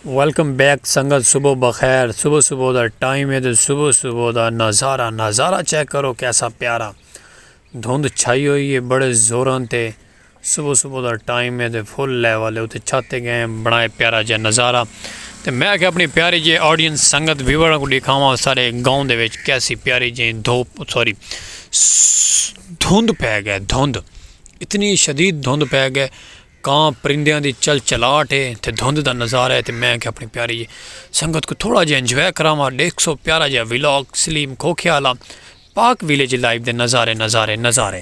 Welcome back سنگت صبح بخیر صبح صبح دا ٹائم ہے تو صبح صبح دا نظارہ نظارہ چیک کرو کیسا پیارا دھند چھائی ہوئی ہے بڑے زوراں تے صبح صبح دا ٹائم ہے تو فل لیول ہے اتنے چھاتے گئے بنائے پیارا جا نظارہ تو میں کہ اپنی پیاری جی آڈینس سنگت ویور کو دکھاواں سارے گاؤں دے وچ کیسی پیاری جی دھوپ سوری دھند پہ گئے دھند اتنی شدید دھند پہ گئے کاں پرندیاں دی چل چلاہٹ ہے تے دھند دا نظارہ ہے تے میں آکھیا اپنی پیاری جی سنگت کوں تھوڑا جیہا انجوائے کراواں ڈیکھ سو پیارا جیہا ولاگ سلیم کھوکھے آلا پاک ویلیج لائیو دے نظارے نظارے نظارے۔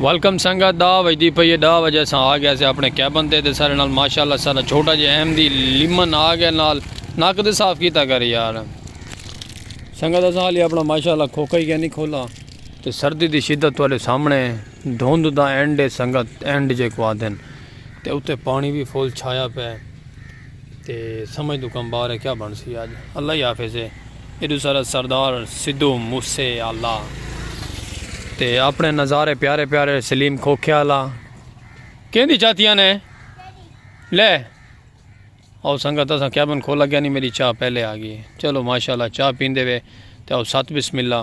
ویلکم سنگت دا وجدی پئی ہے دا وجہ سان آ گیا سے اپنے کیبن تے تے سارے نال ماشاءاللہ سارا چھوٹا جے اہم دی لیمن آ گیا نال ناک دے صاف کیتا کر یار سنگت اساں حالی اپنا ماشاءاللہ کھوکا ہی گیا نہیں کھولا تے سردی دی شدت والے سامنے دھوند دا اینڈ ہے سنگت اینڈ جے کو آدھن تے اتے پانی بھی فول چھایا پہ تے سمجھ توں کم باہر ہے کیا بنسی اج اللہ ہی حافظ ہے ایڈو سارا سردار سدھو موسے آلا تے اپنے نظارے پیارے پیارے سلیم کھوکھے آلا کہیں دی چاہتیاں نے لے او سنگت اساں کیبن کھولا گیا نہیں میری چاہ پہلے آ گئی چلو ماشاءاللہ چاہ پیندے وے تے او سات بسم اللہ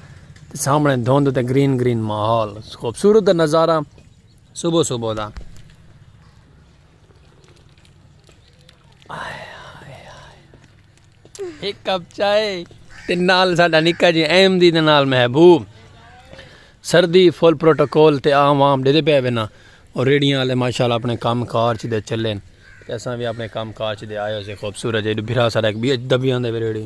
تے سامنے دھند تے گرین گرین ماحول خوبصورت نظارہ صبح صبح دا ایک کپ چائے تے نال ساڈا نکا جی ایم دی دے نال محبوب سردی فل پروٹوکول تے عام عام دے دے پے وینا اور ریڈیاں والے ماشاءاللہ اپنے کام کار چ دے چلے تے اساں وی اپنے کام کار چ دے آئے ہو سے خوبصورت جے بھرا سارا ایک بی ایچ دبیاں دے ریڈی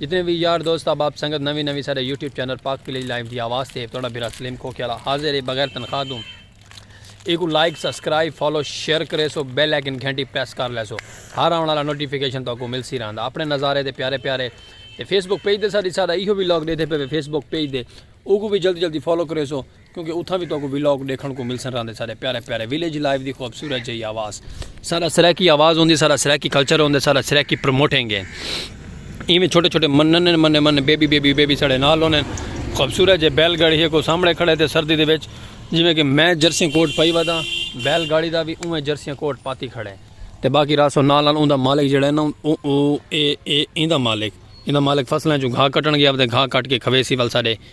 جتنے وی یار دوست احباب سنگت نویں نویں ساڈے YouTube channel Pak village live دی آواز تے تہاڈا بھرا سلیم کھوکھے آلا حاضر ہے بغیر تنخواہ توں ایکوں لائک سبسکرائب فالو شیئر کریسو بیل آئیکن گھنٹی پریس کر لیسو ہر آون آلا نوٹیفیکیشن تہاکوں ملسی رہندا اپنے نظارے تے پیارے پیارے تے فیس بک پیج تے ساڈی ساڈا ایہو وی لاگ ڈیدھے پے وے فیس بک پیج دے اوکوں وی جلدی جلدی فالو کریسو۔ کیونکہ اتھاں وی تہاکوں ولاگ ڈیکھنڑ کوں ملسن راہندے ساڈے پیارے پیارے ولیج لائف دی خوبصورت جئی آواز ساڈا سرائیکی آواز ہوندی ساڈا سرائیکی کلچر ہوندے ساڈا سرائیکی پروموٹنگ ہے ایویں چھوٹے چھوٹے منن منے منے بیبی بیبی بیبی ساڈے نال ہوندے خوبصورت جے بیل گاڑی ہے کو سامنے کھڑے تے سردی دے وچ جویں کہ میں جرسی کوٹ پائی ودا بیل گاڑی دا وی اوویں جرسی کوٹ پاتی کھڑے تے باقی راسو نال نال اوندا مالک جڑا ہے نا او او اے اے ایندا مالک ایندا مالک فصلاں چوں گھا کٹن گیا تے گھا کٹ کے کھویسی ول ساڈے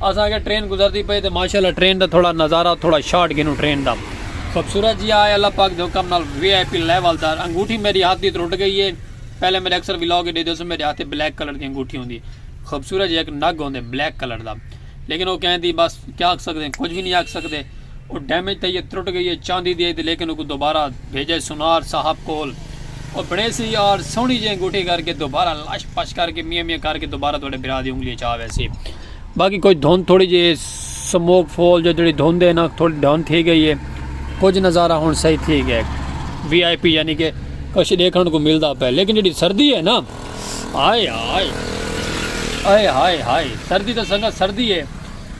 اساں آکھیا ٹرین گزردی پئی تے ماشاءاللہ ٹرین دا تھوڑا نظارہ تھوڑا شاٹ گھنوں ٹرین دا خوبصورت جیا آئے اللہ پاک دے حکم نال وی آئی پی لیول دا انگوٹھی میڈی ہتھ دی ترٹ گئی اے پہلے میڈے اکثر ولاگ اچ ڈیدے سو میڈے ہتھ اچ بلیک کلر دی انگوٹھی ہوندی خوبصورت جیا ہک نگ ہوندے بلیک کلر دا لیکن او کہندی بس کیا آکھ سکدے کچھ وی نی آکھ سکدے۔ او ڈیمیج تھئی اے ترٹ گئی اے چاندی دی اے تے لیکن اوکوں دوبارہ بھیجے سونار صاحب کول او بنڑیسی یار سوہنی جئیں انگوٹھی کر کے دوبارہ لش پش کر کے میاں میاں کر کے دوبارہ تہاڈے بھرا دی انگلی اچ آ ویسی باقی کجھ دھند تھوڑی جئی اے سموک فول جو جیڑھی دھند اے نا تھوڑی ڈاؤن تھی گئی اے کجھ نظارہ ہن صحیح تھی گئے وی آئی پی یعنی کہ کچھ ڈیکھن کو ملدا پے لیکن جیڑھی سردی اے نا ہائے ہائے ہائے ہائے ہائے سردی تے سنگت سردی اے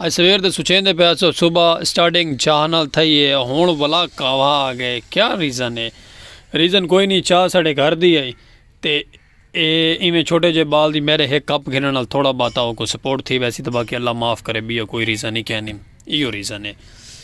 اڄ سویر دے سچیندے پئے ہسو صبح اسٹارٹنگ چاہ نال تھئی ہے ہن ولا کاوھا آ گئے کیا ریزن ہے ریزن کوئی نی چاہ ساڈے گھر دی ہئی تے اے ایویں چھوٹے جے بال دی میرے ہک کپ گھنن نال تھوڑا باتا اوکوں سپورٹ تھی ویسی تے باقی اللہ معاف کرے بیا کوئی ریزن ہی کینی ایو ریزن ہے۔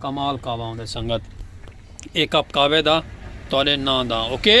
کمال قہوہ ہوندے سنگت اے کپ قہوے دا تہاڈے ناں دا اوکے۔